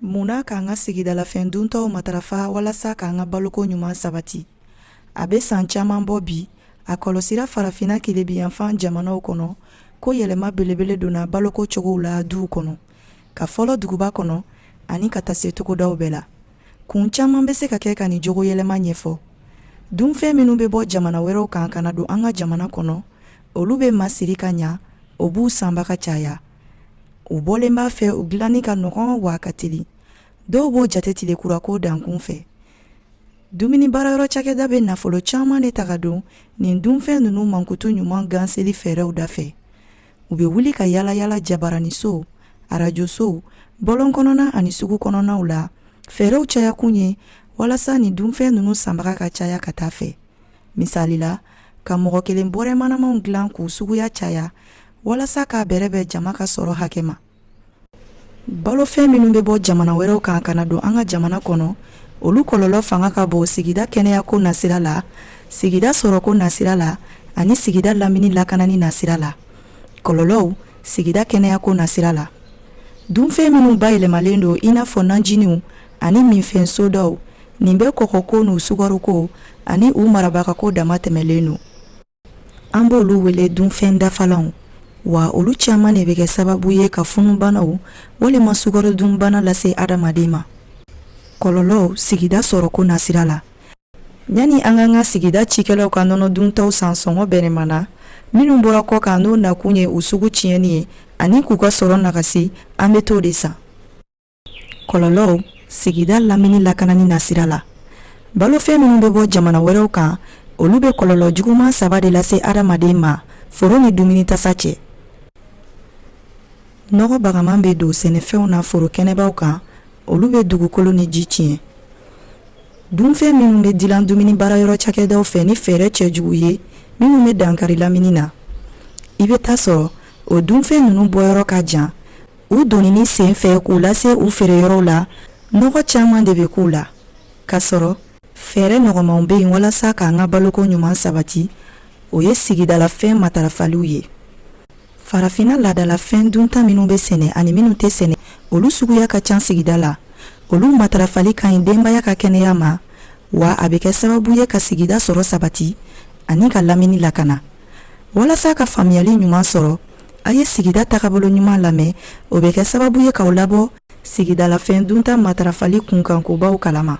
mun na k'an ka sigidalafɛn duntaw matarafa walasa k'an ka baloko ɲuman sabati a bɛ san caman bɔ bi a kɔlɔsira farafinna tilebinyanfan jamanaw kɔnɔ ko yɛlɛma belebele donna baloko cogow la duw kɔnɔ ka fɔlɔ duguba kɔnɔ ani ka taa se togodaw bɛɛ la kun caman bɛ se ka kɛ ka nin jogo yɛlɛma ɲɛfɔ dunfɛn minnu bɛ bɔ jamana wɛrɛw kan ka na don an ka jamana kɔnɔ olu bɛ masiri ka ɲa o b'u sanbaga caya u bɔlen b'a fɛ u dilanni ka nɔgɔn wa a ka teli dɔw b'o jate tile kura ko dankun fɛ dumuni baara yɔrɔ cakɛda bɛ nafolo caman de ta ka don nin dunfɛn ninnu mankutu ɲuman ganseli fɛɛrɛw da fɛ u bɛ wuli ka yaalayaala jabaraniso arajosow bɔlɔn kɔnɔna ani sugu kɔnɔnaw la fɛɛrɛw cayakun ye walasa nin dunfɛn ninnu sanbaga ka caya ka taa fɛ Misali la ka mɔgɔ kelen bɔrɛ manamanw dilan k'u suguya caya walasa k'a bɛrɛbɛn jama ka sɔrɔ hakɛ ma balofɛn minnu bɛ bɔ jamana wɛrɛw kan ka na don an ka jamana kɔnɔ olu kɔlɔlɔ fanga ka bon sigida kɛnɛya ko nasira la sigida sɔrɔko nasira la ani sigida lamini lakanani nasira la kɔlɔlɔw sigida kɛnɛya ko nasira la dunfɛn minnu bayɛlɛmalen don i n'a fɔ najiniw ani minfɛn sodaw nin bɛɛ kɔgɔko n'u sukaroko ani u marabagako damatɛmɛlen don an b'olu wele dunfɛn dafalanw wa olu caman de bɛ kɛ sababu ye ka funubanaw walima sukaro dunbana lase adamaden ma kɔlɔlɔw sigida sɔrɔko nasira la yanni an k'an ka sigida cikɛlaw ka nɔnɔ duntaw san sɔngɔ bɛnɛma na minnu bɔra kɔ kan n'o nakun ye u sugu tiɲɛni ye ani k'u ka sɔrɔ nagasi an bɛ t'o de san kɔlɔlɔw sigida lamini lakanani nasira la balofɛn minnu bɛ bɔ jamana wɛrɛw kan olu bɛ kɔlɔlɔ juguman saba de lase adamaden ma foro ni dumuni tasa cɛ nɔgɔ bagaman bɛ don sɛnɛfɛnw na foro kɛnɛbaw kan olu bɛ dugukolo ni ji tiɲɛ dunfɛn minnu bɛ dilan dumuni baarayɔrɔ cakɛdaw fɛ ni fɛɛrɛ cɛjugu ye minnu bɛ dankari lamini na i bɛ t'a sɔrɔ o dunfɛn ninnu bɔyɔrɔ ka jan u donni sen fɛ k'u lase u feere yɔrɔw la nɔgɔ caman de bɛ k'u la ka sɔrɔ fɛɛrɛ nɔgɔmanw bɛ yen walasa k'an ka baloko ɲuman sabati o ye sigidalafɛn matarafaliw ye farafina laadalafɛn dunta minnu bɛ sɛnɛ ani minnu tɛ sɛnɛ olu suguya ka ca sigida la olu matarafali ka ɲi denbaya ka kɛnɛya ma wa a bɛ kɛ sababu ye ka sigida sɔrɔ sabati ani ka lamini lakana walasa ka faamuyali ɲuman sɔrɔ A ye sigida tagabolo ɲuman lamɛn o bɛ kɛ sababu ye k'aw labɔ sigidalafɛn dunta matarafali kunkankobaw kalama